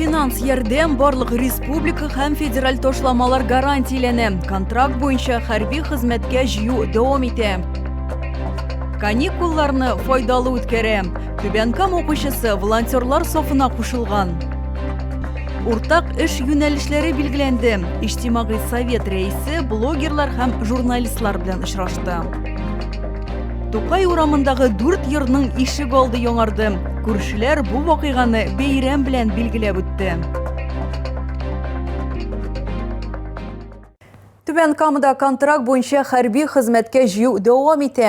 Финанс ярдәм барлык республика һәм федераль тошламалар гарантияләнә. Контракт буенча хәрби хезмәткә җыю дәвам итә. Каникулларны файдалы үткәрә. Түбәнкам укучысы волонтерлар сафына кушылган. Уртак эш юнәлешләре билгеләнде. Иҗтимагый совет рәисе блогерлар һәм журналистлар белән очрашты. Тукай урамындагы дүрт йорның ишек алды яңарды. Күршеләр бу вакыйганы бәйрәм белән билгеләп үтте. Түбән Камада контракт буенча хәрби хезмәткә җыю дәвам итә.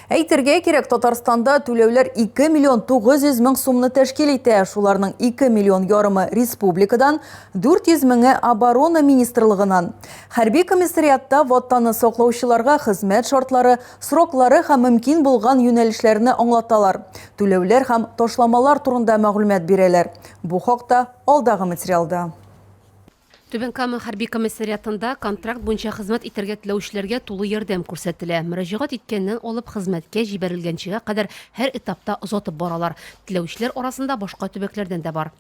Әйтергә кирәк, Татарстанда түләүләр 2 миллион 900 мең сумны тәшкил итә. Шуларның 2 миллион ярымы республикадан, 400 меңе оборона министрлыгынан. Хәрби комиссариатта Ватанны саклаучыларга хезмәт шартлары, сроклары һәм мөмкин булган юнәлешләрне аңлаталар, түләүләр һәм ташламалар турында мәгълүмат бирәләр. Бу хакта алдагы материалда. Түбән Кама хәрби комиссариатында контракт буенча хезмәт итәргә теләүчеләргә тулы ярдәм күрсәтелә. Мөрәҗәгать иткәннән алып хезмәткә җибәрелгәнчегә кадәр һәр этапта озатып баралар. Теләүчеләр арасында башка төбәкләрдән дә бар.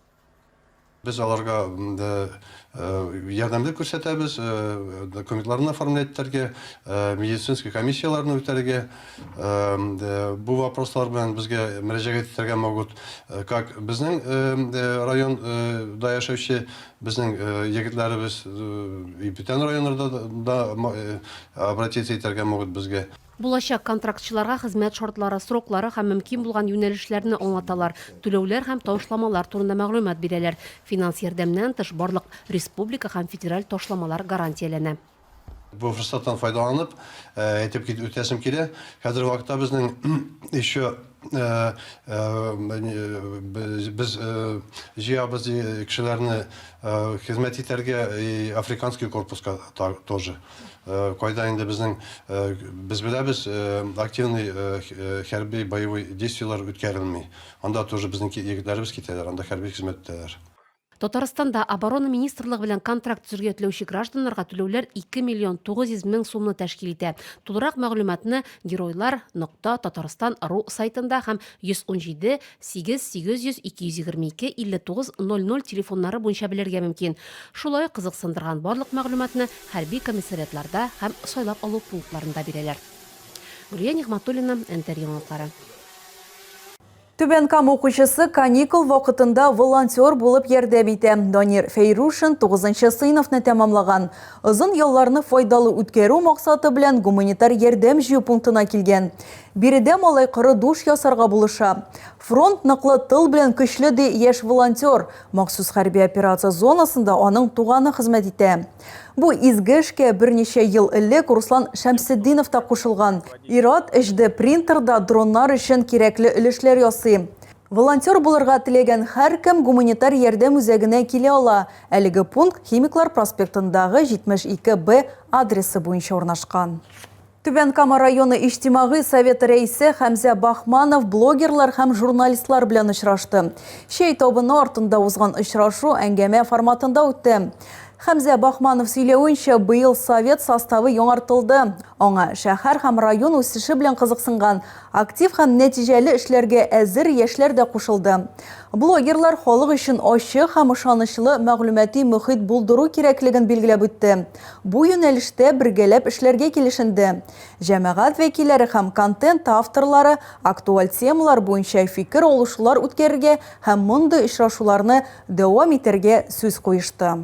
Без аларга ярдәмлек күрсәтәбез, документларны оформлять итәргә, медицинский комиссияләрне үтәргә. Бу вопрослар белән безгә мөрәҗәгать итәргә могут как безнең район да яшәүче безнең егетләребез, и бүтән районнарда да обратиться итәргә могут безгә. Булачак контрактчыларга хезмәт шартлары, сроклары һәм мөмкин булган юнәлешләрне аңлаталар, түләүләр һәм ташламалар турында мәгълүмат бирәләр. Финанс ярдәменнән тыш, барлык республика һәм федераль ташламалар гарантияләнә. Бу форсаттан файдаланып, әйтеп кит үтәсем килә, хәзерге вакытта безнең еще без җыябыз кешеләрне хезмәт итәргә и африканский корпуска та тоже. Кайда инде безнең, без беләбез, активный хәрби боевой действиеләр үткәрелми. Анда тоже безнең егетләребез китәләр, анда хәрби хезмәт итәләр. Татарстанда Оборона министрлыгы белән контракт төзергә теләүче гражданнарга түләүләр 2 миллион 900 мең сумны тәшкил итә. Тулырак мәгълүматны Геройлар. Татарстан. Ру сайтында һәм 117 Сигез, сигез йөз, ике йөз егерме ике, илле тугыз, ноль ноль телефоннары буенча белергә мөмкин. Шулай ук кызыксындырган барлык мәгълүматны хәрби комиссариатларда һәм сайлап алу пунктларында бирәләр. Гөлия Нигъматуллина, НТР яңалыклары. Түбән Кама укучысы каникул вакытында волонтер булып ярдәм итә. Данир Фәйрушин тугызынчы сыйныфны тәмамлаган. Озын ялларны файдалы үткәрү максаты белән гуманитар ярдәм җыю пунктына килгән. Биредә малай коры душ ясарга булыша. Фронт ныклы, тыл белән көчле, ди яшь волонтер. Махсус хәрби операция зонасында аның туганы хезмәт итә. Бу изге эшкә берничә ел элек Руслан Шәмсетдинов та кушылган. Ир-ат HD принтерда дроннар өчен кирәкле өлешләр ясый. Волонтер булырга теләгән һәркем гуманитар ярдәм үзәгенә килә ала. Әлеге пункт Химиклар проспектындагы 72 Б адресы буенча урнашкан. Түбән Кама районы иҗтимагый советы рәисе Хәмзә Бахманов блогерлар һәм журналистлар белән очрашты. Чәй табыны артында узган очрашу әңгәмә форматында үтте. Хәмзә Бахманов сөйләвенчә, быел совет составы яңартылды. Аңа шәһәр һәм район үсеше белән кызыксынган, актив һәм нәтиҗәле эшләргә әзер яшьләр дә кушылды. Блогерлар халык өчен ачык һәм ышанычлы мәгълүмати мөхит булдыру кирәклеген билгеләп үтте. Бу юнәлештә бергәләп эшләргә килешенде. Җәмәгать вәкилләре һәм контент авторлары актуаль темалар буенча фикер алышулар үткәрергә һәм мондый очрашуларны дәвам итәргә сүз куешты.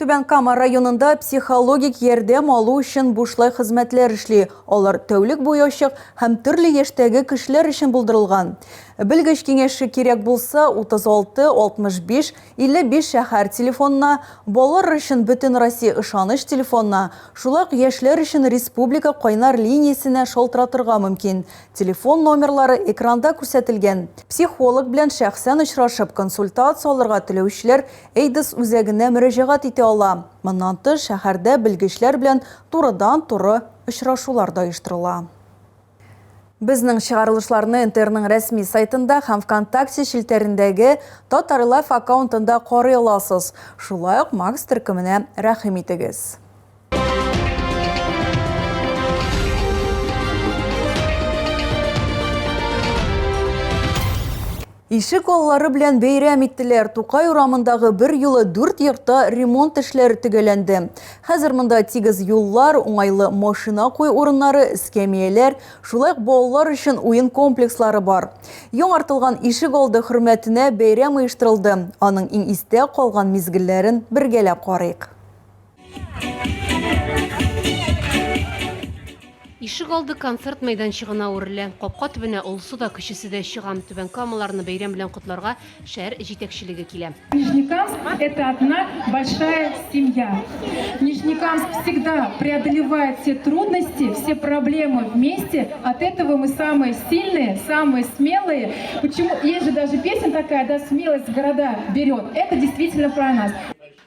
Түбән Кама районында психологик ярдәм алу өчен бушлай хезмәтләр эшли, алар тәүлек буе ачык һәм төрле яшьтәге кешеләр өчен булдырылган. Белгеч киңәше кирәк булса, 36 65 55 шәһәр телефонына, балалар өчен Бөтенроссия ышаныч телефонына, шулай ук яшьләр өчен республика кайнар линиясенә шалтыратырга мөмкин. Телефон номерлары экранда күрсәтелгән. Психолог белән шәхсән очрашып, консультация алырга теләүчеләр AIDS үзәгенә мөрәҗәгать итә ала. Моннан тыш, шәһәрдә белгечләр белән турыдан-туры очрашулар да оештырыла. Безнең чыгарылышларны НТРның рәсми сайтында һәм ВКонтакте челтәрендәге Татарлайф аккаунтында карый аласыз. Шулай ук Макс төркеменә рәхим итегез. Ишек аллары белән бәйрәм иттеләр. Тукай урамындагы бер юлы дүрт йортта ремонт эшләре төгәләнде. Хәзер монда тигез юллар, уңайлы машина кую урыннары, эскәмияләр, шулай ук балалар өчен уен комплекслары бар. Яңартылган ишек алды хөрмәтенә бәйрәм оештырылды. Аның иң истә калган мизгелләрен бергәләп карыйк. Ишегалды концерт мәйданчыгына әверелә. Капка төбенә олысы да, кечесе дә чыга. Түбән Камаларны бәйрәм белән котларга шәһәр җитәкчелеге килә. Нижнекамск – это одна большая семья. Нижнекамск всегда преодолевает все трудности, все проблемы вместе. От этого мы самые сильные, самые смелые. Почему? Есть же даже песня такая, да, смелость города берет. Это действительно про нас.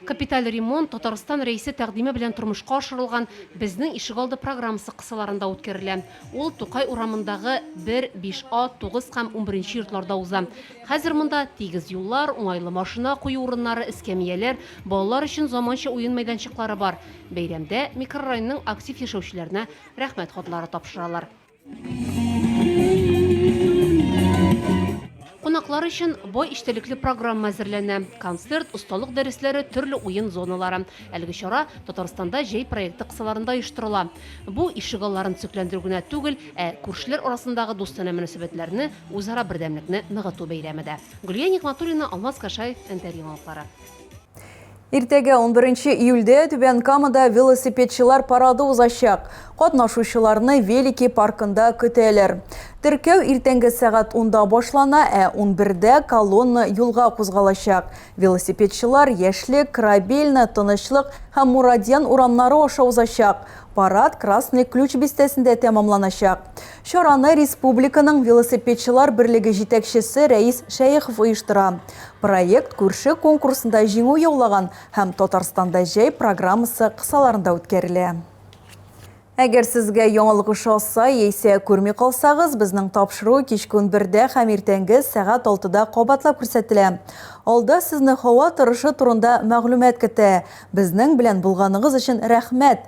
Капиталь ремонт Татарстан Рәисе тәкъдиме белән тормышка ашырылган Безнең ишегалды программасы кысаларында үткәрелә. Ул Тукай урамындагы 1, 5А, 9 һәм унберенче йортларда уза. Хәзер монда тигез юллар, уңайлы машина кую урыннары, эскәмияләр, балалар өчен заманча уен мәйданчыклары бар. Бәйрәмдә микрорайонның актив яшәүчеләренә Рәхмәт хатлары тапшыралар. Кунаклар өчен бай эчтәлекле программа әзерләнә. Концерт, осталык дәресләре, төрле уен зоналары. Әлеге чара Татарстанда җәй проекты кысаларында оештырыла. Бу ишегалларын төзекләндерү генә түгел, ә күршеләр арасындагы дустанә мөнәсәбәтләрне, үзара бердәмлекне ныгыту бәйрәме дә. Гөлия Нигъмәтуллина, Алмаз Кашаев, НТР яңалыклары. Иртәгә, унберенче июльдә, Түбән Камада велосипедчылар парады узачак. Катнашучыларны Велики паркында көтәләр. Теркәү иртәнге сәгать унда башлана, ә унбердә колонна юлга кузгалачак. Велосипедчылар Яшьлек, Корабельная, Тынычлык һәм Мурадьян урамнары аша узачак. Парад Красный Ключ бистәсендә тәмамланачак. Чараны республиканың велосипедчылар берлеге җитәкчесе Рәис Шәехов оештыра. Проект күрше конкурсында җиңү яулаган һәм Татарстанда җәй программасы кысаларында үткәрелә. Әгәр сезгә яңалык ошаса яисә күрми калсагыз, безнең тапшыру кичке унбердә һәм иртәнге сәгать алтыда кабатлап күрсәтелә. Алда сезне һава торышы турында мәгълүмат көтә. Безнең белән булганыгыз өчен рәхмәт!